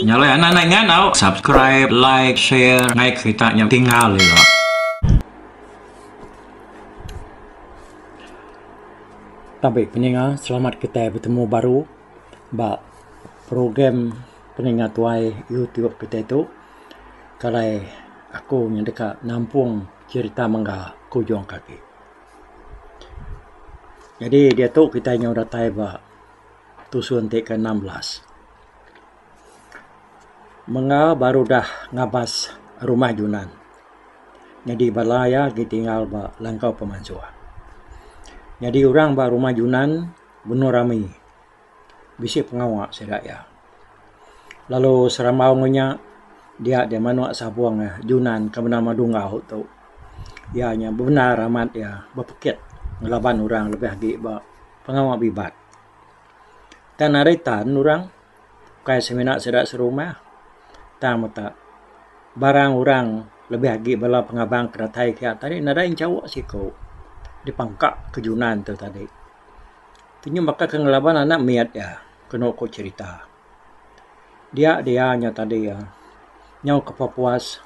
Nyalai anak nai ngandau subscribe like share ngai kerita nya tinggal ira. Tapi peninga selamat kitai betemu baru ba program peninga tuai youtube kitai tu kalai aku ngan deka nampung cherita mengga ke ujung kaki. Jadi diatu kitai nyau datai ba tusun ti ke enam belas. Mengga baru udah ngabas rumah junan nyadi bala iya agi tinggal ba langkau pemansuh. Nyadi orang ba rumah junan benung rami. bisi pengawa sida iya. Lalu serambau ngan nya dia deh manok sapong eh Junan ke bendar Madu Enggau tu. Iya nya bebendar amat iya bepekit ngelaban orang lebih agi ba pengawa bibat. Kan ari tan orang kai semina sida serumah tang meta barang orang lebih agi bala pengabang ke datai kiya tadi nadai enchauk siko dipangka ke Junan tu tadi. Tenyum baka ke ngelaban anak meyat iya keno ku cherita. Dia dia nya tadi nyau kepa puas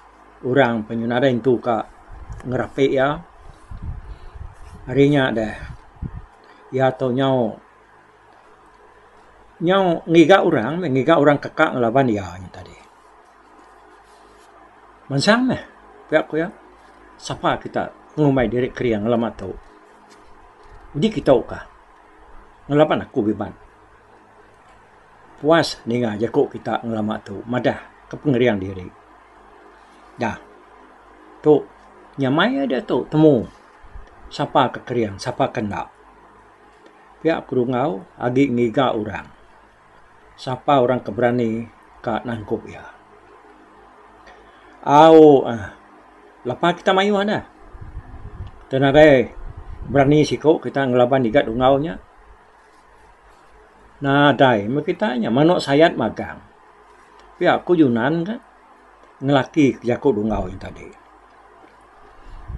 orang pe nyau nadai entu ka ngerape iya. Ari nya deh iya tu nyau nyau ngiga orang meh ngiga orang kaka ngelaban iya nya tadi. Mansang meh pia ku iya sapa kita ngumbai diri kering lema tu. Uji kitou ka ngelaban aku biban. Puas ninga jaku kita ngelama tu madah ke pengering diri. Da. Tu nyamai ia diatu temu sapa ke kering sapa ke enda. Pia aku rungau agi ngiga orang. sapa orang ke berani ka nangkup iya. Au uhh lapa kita mayuh ne kita nadai berani siku kita ngelaban ngigat ungau nya. Nadai meh kita nya menu sayat magang pia ku Yunan ka ngelaki ke jaku dungau nya tadi.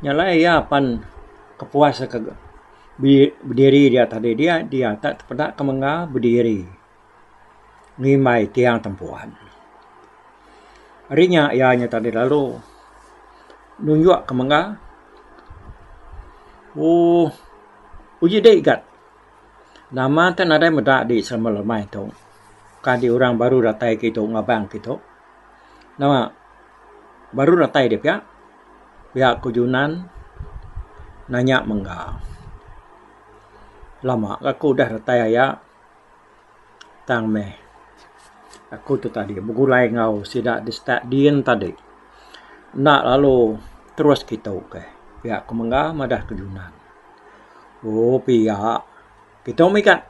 Nya alai iya pan kepuas ka bediri dia tadi dia dia tak peda ke mengga bediri ngimbai tiang tempuan. Ari nya iya nya tadi lalu nunjuk ke mengga uhh uji dai gat nama ke nadai meda di selama lemai tu ka di orang baru datai kitu ngaban kitu nama Baru datai dia pia, pia ku Junan nanya mengga. Lama ga ku udah datai aya tang meh aku tu tadi begulai enggau sida di stat din tadi. Enda lalu terus kitu ke. Pia ku mengga madah ku Junan. Ooh pia. Kitou mega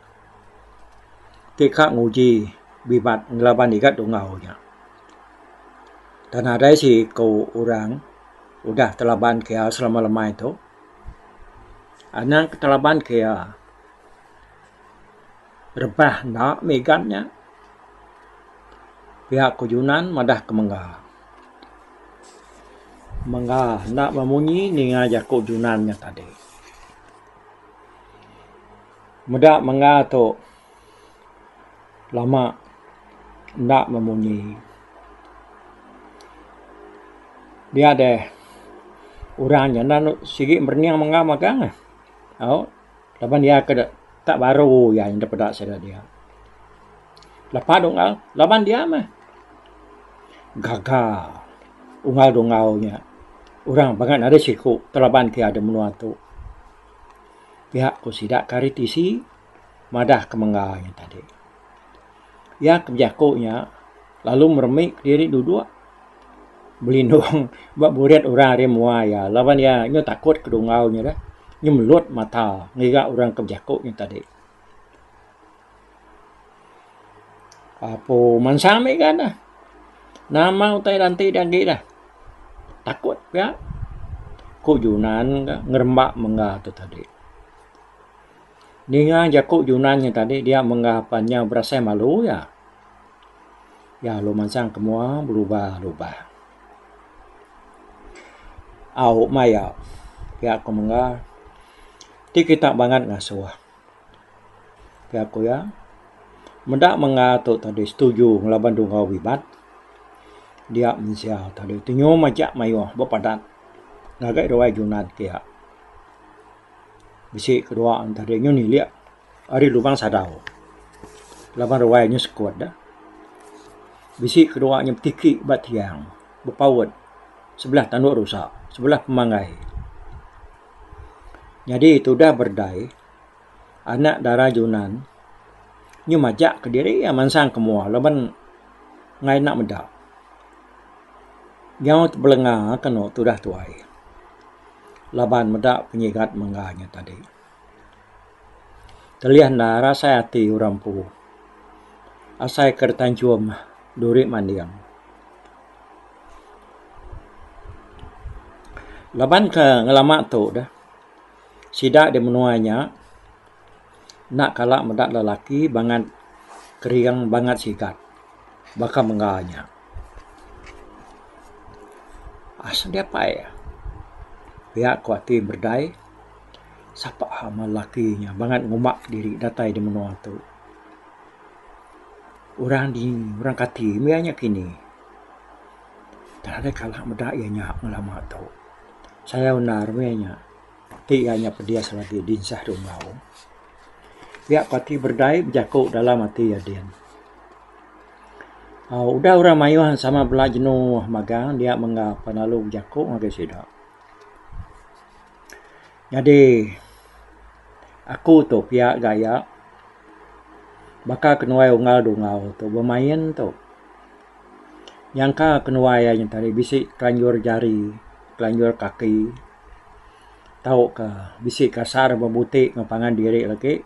ti ka nguji bibat ngelaban iga dungau nya. Tang nadai seiku orang udah telaban ke iya selama lemai tu. Anang ke telaban ke iya rebah enda megan nya. Pia ku junan madah ke mengga. Mengga enda bemunyi ninga jaku junan nya tadi. Meda mengga tu lama enda memunyi dia deh orang nya enda sigi merening mengga mega au laban iya ke ka baru iya enda peda sida dia. Lepa dungka laban dia meh. Gaga Ungau Dungau nya orang baka ne ari siku ti laban ti adeh menua tu. Pia ku sida ke ari tisi madah ke mengga nya tadi. Iya ke bejaku nya lalu meremi diri dudok belindung ba buret orang ari menua iya laban iya nyau takut ke dungau nya deh. Nyemelut mata ngiga orang ke bejaku nya tadi. Apo mansang ami ga ne. Nama utai da enti da agi dah. Takut pia. Ku Junan ga ngeremba mengga tu tadi. Ninga jaku Junan nya tadi dia mengga pan nya berasai malu iya. Iya lalu mansang ke mua berubah ubah. Au maioh. Pia ku mengga ti kita bangat ngasuh. Ke aku iya, meda mengah tu tadi setuju ngelaban dua enggau bibat. Dia mensia tadi ti nyuh majak mayuh ba padat ngagai ruai Junad ke iya. Bisi ke dua ne tadi nyuh nilik ari Lubang Sadau laban ruai nyuh sekut deh. Bisi ke dua nyuh betiki ba tiang bepaut sebelah tandu rusa, sebelah pemanggai. Nyadi tudah berdai anak dara junan nyu majak kediri iya mansang ke mua laban ngai enda meda nyau tebelenga ke eno tudah tuai laban meda penyigat mengga nya tadi. Telih enda rasai ati orang empu asai ke ditanchum duri manding. Laban ke ngelama tu deh sida di menua nya enda kala meda lelaki bangat kering bangat sigat baka mengga nya. Asal dia pai pia ku ati berdai sapa lelaki nya bangat ngumba diri datai di menua tu. Orang dini, orang kati mih iya nya kini. Tang alai kala meda iya nya lama tu. Sayau undar mih iya nya. Ti iya nya pedis lagi dinsah dua enggau. Pia ko ati berdai bejaku dalam ati iya din. Au udah orang mayuh sama bala jenu magang dia mengga pa lalu bejaku ngagai sida. Nyadi aku tu pia gaya baka kenuai unggal dungau tu bemain tu nyangka kenuai aja tadi bisi kelanjur jari kelanjur kaki tau ka bisi kasar bebuti ngan pangan diri lagi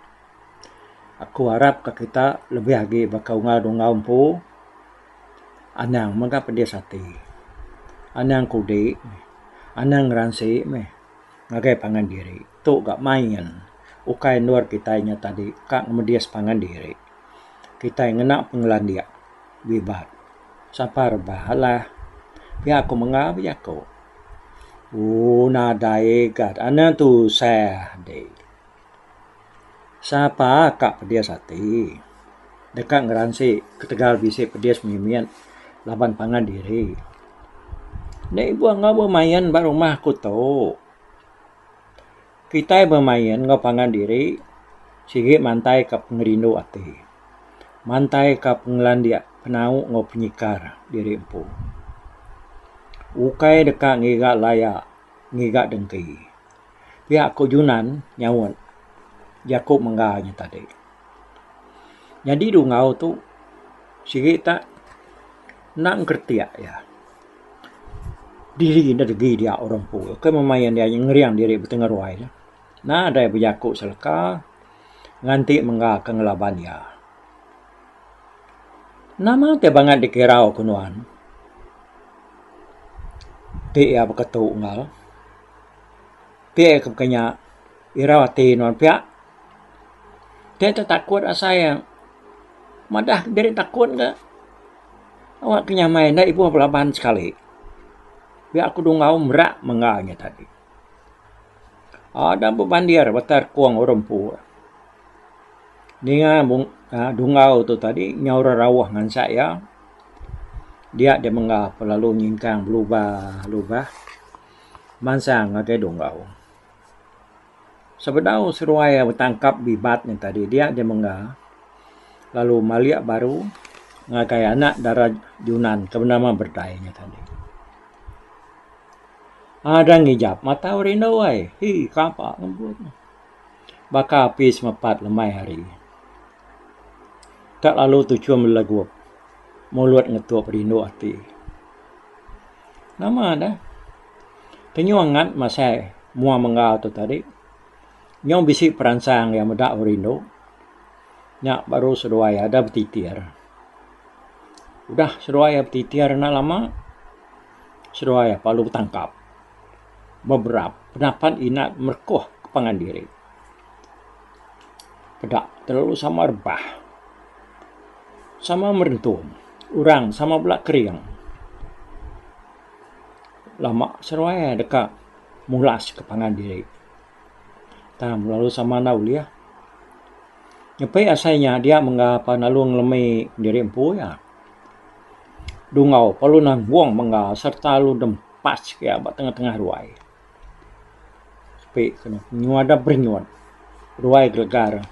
aku arap ka kita lebih agi baka unggal dungau empu anang mega pedis ati anang kudi anang ngeransi meh. Ngagai pangan diri tu ga main ukai endur kitai nya tadi ka ngemedis pangan diri. Kitai ngena pengelandik bibat sapa rebah alah pia ku menga ba jaku. Ooh nadai ga anu tusah deh. Sapa ka pedis ati deka ngeransi ketegal bisi pedis mimit laban pangan diri. Nya ibuh enggau bemain ba rumah aku tu. Kitai bemain enggau pangan diri sigi mantai ka pengerindu ati. Mantai ka pengelandik penau enggau penyikar diri empu. Ukai deka ngiga laya ngiga dengki. Pia ku Junan nyaut jaku mengga nya tadi. Nyadi dungau tu sigi ta enda ngeretik iya. Diri ne degi dia orang empu tu kai meh main iya ngering diri betengah ruai ne. Nadai bejaku seleka nganti mengga ke ngelaban iya. Nama ti bangat dikirau ku nuan ti iya beketu enggau. Ti iya ke buka nya irau ati nuan pia. Ti tu takut asai iya madah diri takut ka awa ke nyamai enda ibuh ba laban sekali. Pia aku dungau mera mengga nya tadi. Ada bebandir baka kong orang empu ninga uhh dungau tu tadi nyau orang rauh ngansa iya dia deh mengga lalu nyingkang belubah lubah. Mansang ngagai Dunggau. Sebedau seruai betangkap bibat nya tadi dia di mengga lalu malik baru ngagai anak dara Junan ke benama Berdai nya tadi. Aaa deh ngijap matau rindu ai. Hi kapa ngebut ne. Baka api semepat lemai hari. Ka lalu tuchum legup mulut ngetup rindu ati. Nama dah. Kenyuang ngat masai mua menggal tu tadi. Nyau bisi peransang iya meda aku rindu. Nya baru seduai iya da betitir. Udah seduai iya betitir enda lama seduai iya lalu betangkap. Beberap pendapat inat merekoh ke pangan diri. peda telalu sama rebah, sama merentum orang sama bela kering. Lama seruai iya deka mulas ka pangan diri tang lalu sama enda ulih. Ngepi asai nya dia mengga pa lalu ngelemi diri empu iya. Dungau pa lalu nanggung mengga sereta lalu dempas iya ba tengah-tengah ruai. Ape ke ne nyua da berinyut ruai gregar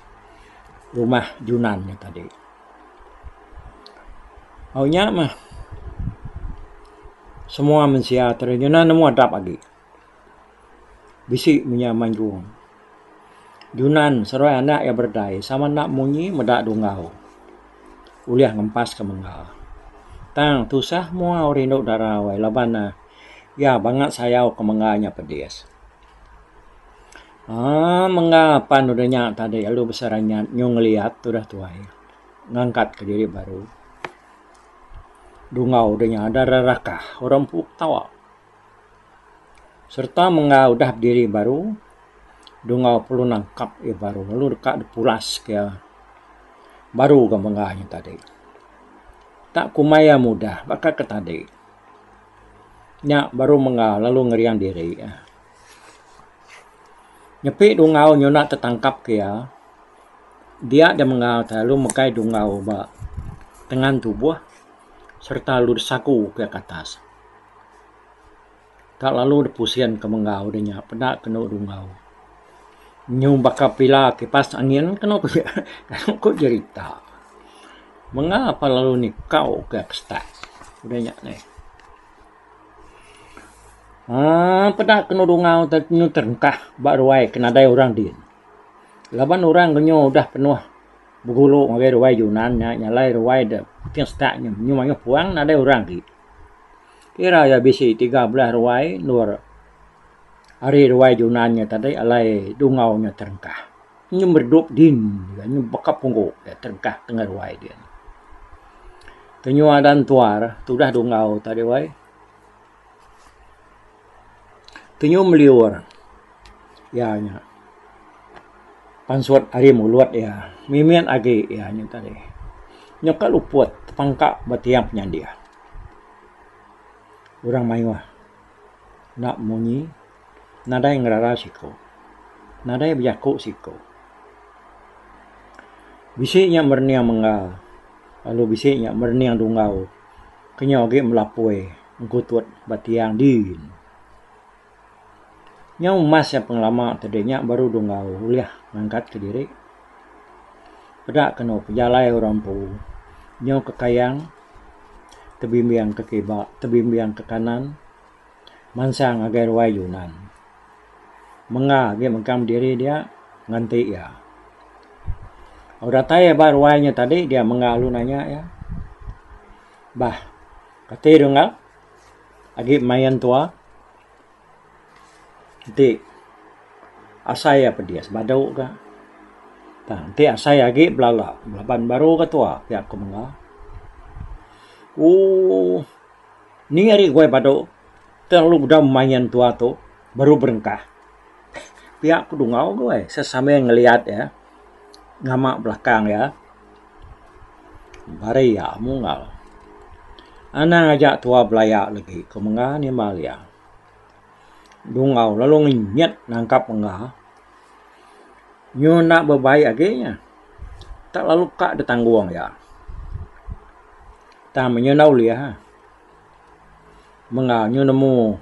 rumah junan nya tadi. Au nya mah semua mensia tradisional nemu adap agi bisi mung inya mayuh junan seruai anak iya berdai sama enda munyi meda dungau ulih ngempas ke mengga tang tusah mua rindu dara wai laban ne. Ya bangat sayau ke mengga nya pedis. Aaa mengga pan udah nya tadi lalu bisi ranyat nyu ngeliat udah tuai ngangkat ke diri baru dungau udah nya udah ra rakah orang empu ketawa serta mengga udah bediri baru dungau perlu nangkap iya baru lalu deka dipulas ke iya baru ga mengga nya tadi. Tak kumai iya mudah baka ke tadi. Nya baru mengga lalu ngerian diri. Nyepi dungau nyuna tetangkap ke iya, dia da mengga ti lalu megai dungau ba tengan tubuh sereta lalu disagu pia ke atas. Tak lalu dep pusing ke menggau deh nya peda kenu dungau. Nyu baka pila kipas angin kenu ku nya kenu ku jerita. Menga pa lalu ni kau ke pstak deh nya neh. Aaa peda kenu dungau te nyu terengkah ba ruai ke nadai orang din. Laban orang ke nyu udah penuh begulu ngagai ruai Yunan nya nya alai ruai dep ti stak nyu mayuh puang nadai orang agi. Ira iya bisi tiga belas ruai endur ari ruai Junan nya tadi alai Dungau nya terengkah. Nyem redup din iya nyem baka punggu iya terengkah tengah ruai dia nya. Kenyau adan tuar tudah Dungau tadi wai. Penyum liur iya nya pansut ari mulut iya mimit agi iya nya tadi nyungka luput tepangka ba tiang penyadi orang mayuh enda munyi nadai ngerara siku nadai bejaku siku bisi nya merening menggal lalu bisi nya merening dungau. Kenyau agi belapoi engkutut ba tiang din. Nyau emas nya pengelama ti deh nya baru deh enggau ulih ngangkat ke diri. Peda ke eno pejalai orang empu nyau ke kayang tebimbing ke kiba tebimbing ke kanan mansang ngagai ruai junan. Menga agi mengkang diri dia nganti iya. Lalu datai iya ba ruai nya tadi dia menga lalu nanya iya, Bah, kati dulu enggau agi main tua? Enti asai iya pedis badu ka. Tang enti asai iya agi belala laban baru ka tua pia ku menga. Ooh. Ni ari guai badu telalu bedau main tua tu baru berengkah. Pia ku dungau guai sambil ngeliat iya ngama belakang iya bari iya mungal. Anang aja tua belaya lagi ku menga nimbal iya. Dungau lalu ngenyit nangkap menga Nyunak bebaik agi nya tak lalu ka ditanggung iya. Tang menyau enda ulih ah mung ga nyu nemu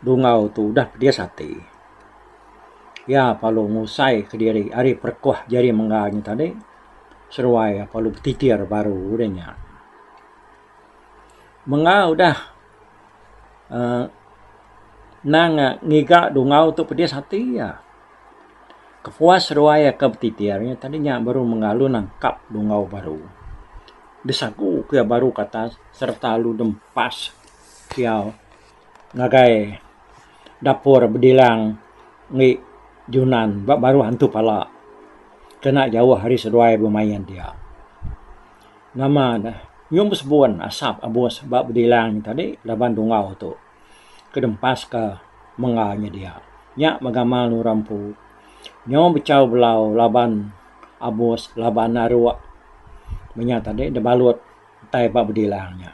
dungau tu udah pedis ati. Iya perlu ngusai ke diri ari perekuh jari mengga nya tadi seruai iya perlu betitir baru deh nya. Menga udah uhh nang ngiga dungau tu pedis ati iya. Kepuas ruai iya ke betitir nya tadi nya baru mengalu nangkap dungau baru. Besagu ku iya baru ke atas sereta lalu dempas kiau ngagai dapur bedilang indi Junan ba baruh antu pala kena jauh ari seduai bemain dia. Nama ne nyum besebun asap abus ba bedilang nya tadi laban dungau tu ke dempas ke mengga nya dia. Nya meh gamal orang empu nyau bechau belau laban abus laban aruk meh nya tadi da balut tai ba bedilang nya.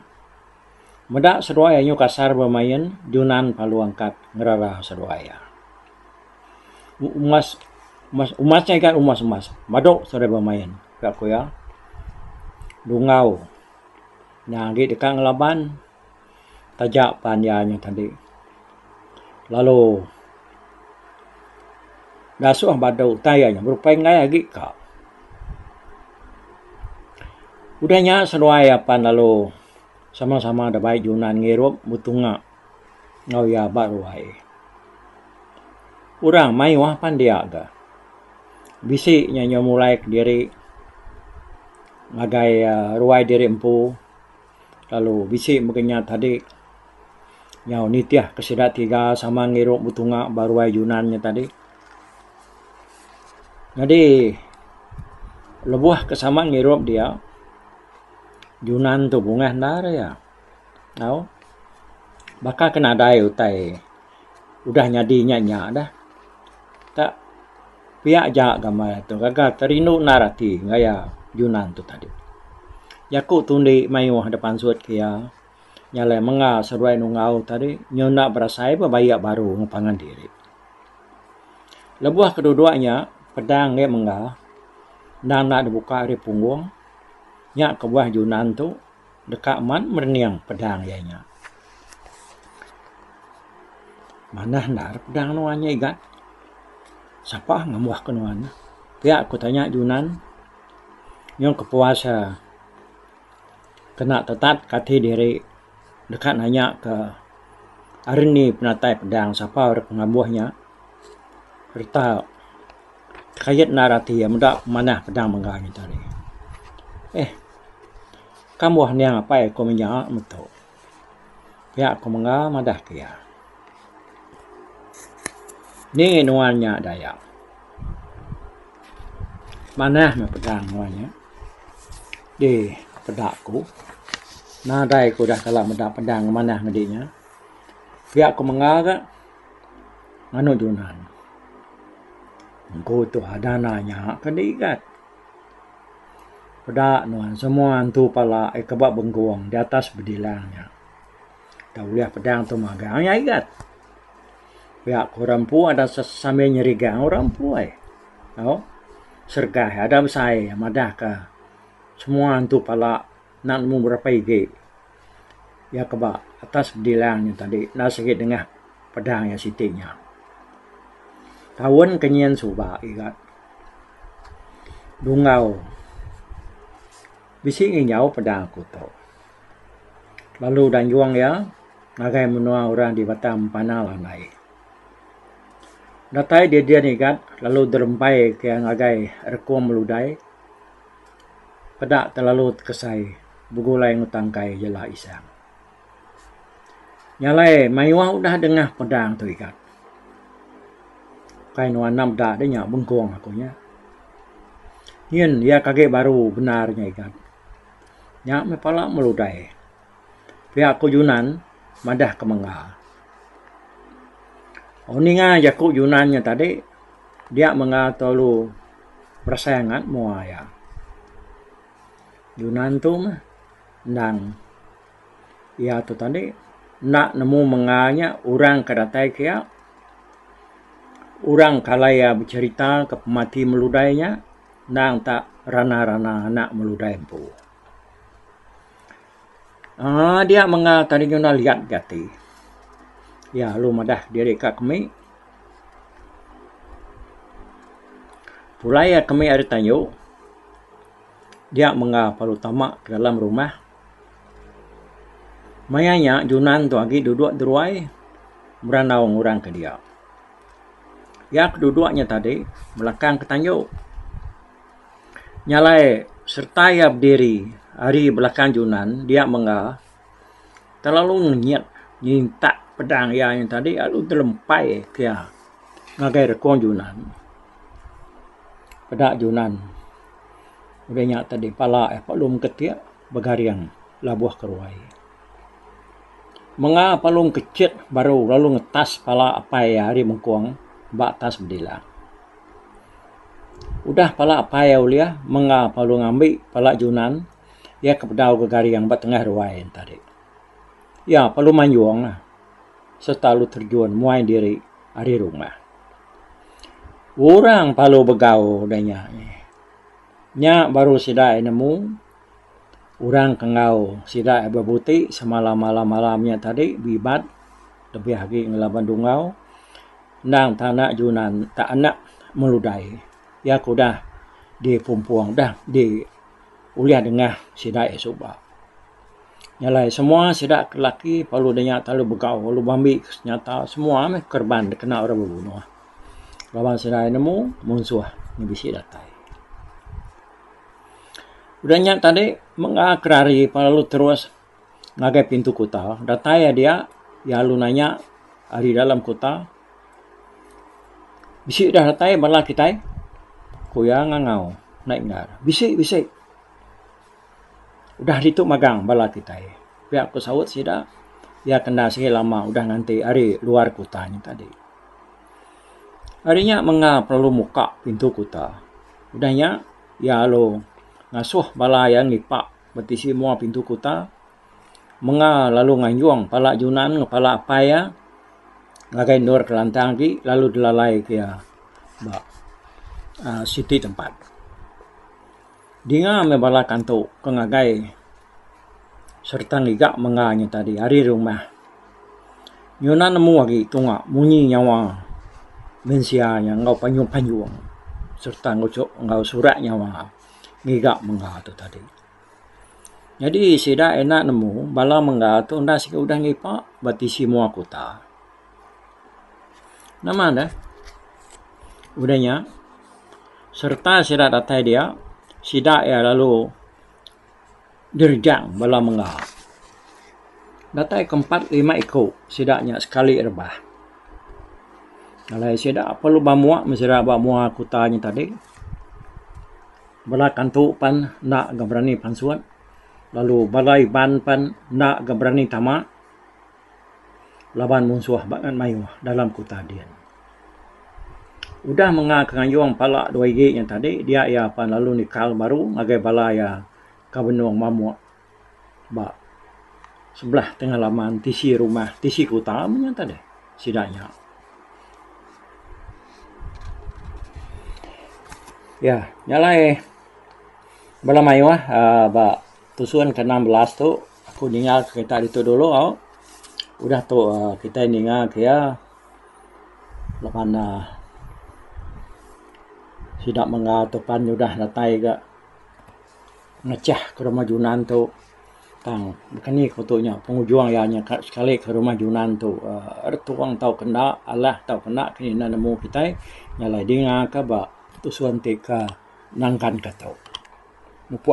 Meda seduai anyu kasar bemain Junan Palu Angkat ngerara seduai iya. umas umas umas nya ikan umas umas madu seri bemain ka ku iya. Dungau nya agi deka ngelaban taja pan iya nya tadi lalu dasuh badu utai iya nya berupai enggai agi ka. Udah nya seduai iya pan lalu sama sama deka bai junan ngirup mutunga. enggau iya ba ruai. Orang mayuh pan dia ga bisi nya nyau mulai kediri ngagai ruai diri empu lalu bisi mega nya tadi nyau nitih ke sida tiga sama ngiru betunga ba ruai Yunan nya tadi. Nyadi lebuh ke sama ngirup dia Yunan tu bungah enda re iya. Au. Baka ke nadai utai udah nyadi nya nya dah. Ka pia aja gambar aye tu gaga ke rindu endar ati gaya Yunan tu tadi. Jaku tu indi mayuh dep ansut ke iya nya alai menga seduai nungau tadi nyu enda berasai pun bayak baru meng pangan diri. Lebuh ke dua dua nya pedang neh mengga endang enda dibuka ari punggung nya kebuah Yunan tu. deka mat merening pedang iya nya. Manah endar pedang nuan nya igat. Sapa ngambuh ke nuan? Pia ku tanya Junan nyau kepuas iya kena tetat ke ati diri deka nanya ke Arni penatai pedang sapa ira ke ngambuh nya sereta kait endar ati iya meda manah pedang mega nya tadi. Eh. Kan buah niang apai aku mih nya metu. Pia ku mengga madah ke iya. Ni nuan nya Dayak. Manah meh pedang nuan nya. Di peda ku. Nadai ku udah kala meda pedang manah madi nya. Pia ku mengga ka nganu junan. Engku tu dana nya ke digat. Peda nuan semua antu pala ai ke ba bengkung di atas bedilang nya. Tau ulih pedang tu magang nya igat. Pia ku orang empu ada sambil nyerigang orang empu ai. Au serega ada besai madah ka semua antu pala. enda nemu berapai agi iya ke ba atas bedilang nya tadi enda sigi nengah pedang iya siti nya. Taun ke nyin suba giga Dunggau bisi ngijau pedang aku tu lalu udah nyuang iya ngagai menua orang di Batang Empanal alai. Datai didin giga lalu derembai ke iya ngagai Rekung Meludai. peda telalu tekesai begulai ngutang kai jela isang. Nya alai mayuh udah dengah pedang tu ikat. Kai nuan enda meda deh nya bengkong aku nya. Nyin iya kage baru bendar nya ikat. Nya meh pala meludai. pia aku Junan madah ke mengga. Oh ninga jaku Junan nya tadi dia mengga telalu berasai angat mua iya. Junan tu meh endang iya tu tadi enda nemu mengga nya orang ke datai ke iya orang ke alai iya becerita ke pemati melu udah nya endang tak rana-rana anak melu udah empu. uhh dia mengah kadi nyudah liat ga ti. Iya lalu madah diri ka kemi. Pulai kemi ari tayu dia mengah baru tama ka dalam rumah. Maya iya Junan tu agi dudok deruai berandau ngan orang ke dia. Iya ke dudok nya tadi belakang ka tayu. Nyalai sereta iya bediri ari belakang junan dia mengga telalu ngenyit ngintak pedang iya nya tadi lalu telempai ke iya ngagai rekong junan peda junan udah nya tadi pala iya palung ke ti. Begaring labuh ke ruai. Menga palung ke chit baru lalu ngetas pala apai iya ari mengkung ba atas bedila. Udah pala apai iya ulih menga palung ngambi pala junan iya ke bedau ke garing ba tengah ruai enti ari. Iya lalu manjung lah sereta lalu terjun muai diri ari rumah. Orang lalu begau deh nya. Nya baru sida nemu orang ke enggau sida bebuti semalam malam-malam nya tadi bibat lebih agi ngelaban dungau endang tana junan tak anak meludai iya ke udah dipumpong udah di ulih dengah sida iya suba. Nya alai semua sida ke laki lalu daya begau lalu be ambi nyata semua meh kerban dikena orang bebunuh. Laban sida ai nemu munsuh meh bisi datai. Udah nya tadi meh ga ke rari pan lalu terus ngagai pintu kuta. Datai iya dia iya lalu nanya ari dalam kuta bisi dah datai bala kitai? Ku iya ngangau naik endar. Bisi bisi. Udah ditu magang bala kitai. Pia ku saut sida. Iya ke enda sigi lama udah nganti ari luar kuta nya tadi. Ari nya menga pengalu muka pintu kuta. Udah nya iya lalu ngasuh bala iya ngipa ba tisi mua pintu kuta menga lalu nganjung pala junan enggau pala apai iya ngagai endur kelantang agi lalu dilalai ke iya ba siti tempat. Dinga meh bala kantu ke ngagai sereta ngiga mengga inya tadi ari rumah. Nyuna nemu agi tunga munyi nyawa mensia nya enggau panjung-panjung sereta enggau surat nyawa ngiga mengga tu tadi. Nyadi sida enda nemu bala mengga tu enda siku udah ngipa ba tisi mua kuta. Nama deh? Udah nya, sereta sida datai dia, sida iya lalu direjang bala menga. Datai ke empat lima iku sida nya sekali rebah. Alai sida perlu ba mua meh sida ba mua kuta nya tadi. Bala kantu pan enda ga berani pansut lalu bala Iban pan enda ga berani tama. laban munsuh ba ngan mayuh dalam kuta din. Udah menga ke ngayung pala dua igi nya tadi dia iya pan lalu nikal baru ngagai bala iya ka benung mamuk ba sebelah tengah laman tisi rumah tisi kuta menya tadi sida nya. Iya nya alai bala mayuh aaa ba Tusun ke enam belas tu aku ninga kereta ditu dulu au udah tu um kitai ninga ke iya laban um sida mega tu pan udah datai ga mechah ke rumah junan tu tang baka ni ku tu nya pengujung iya nya sekali ke rumah junan tu um tuong tau ke enda alah tau ke enda ke ina nemu kitai nya alai dinga ke ba tusun ti ke nangkan ke tu.